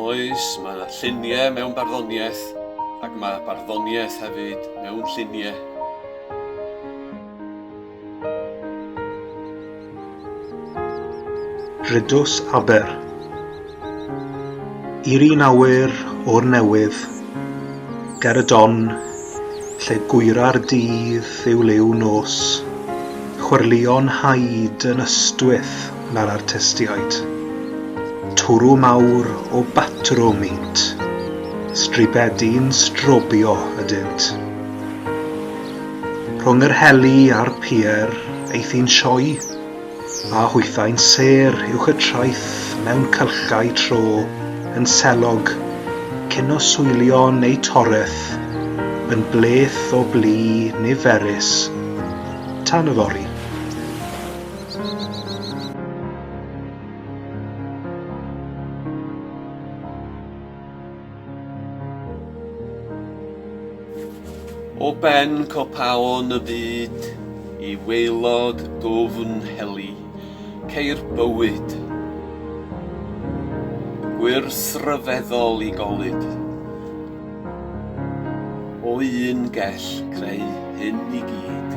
Oes, mae 'na lluniau mewn barddoniaeth, ac mae barddoniaeth hefyd mewn lluniau. Rydws Aber. I'r un awyr o'r newydd, ger y don, lle gwyra'r dydd yw liw nos, chwerlion haid yn ystwyth na'r artistiaid. Twrw mawr o batrwm int, stribedi'n strobio ydynt. Rhwng yr heli a'r pier, eithi'n sioe? A hwythau'n sêr uwch y traeth mewn cylchau tro yn selog, cyn oswylio yn eu toreth, yn bleth o blu niferus tan yfory. O ben copaon y byd i waelod dwfn heli, ceir bywyd. Gwrs ryfeddol i golud. O un gell creu hyn i gyd.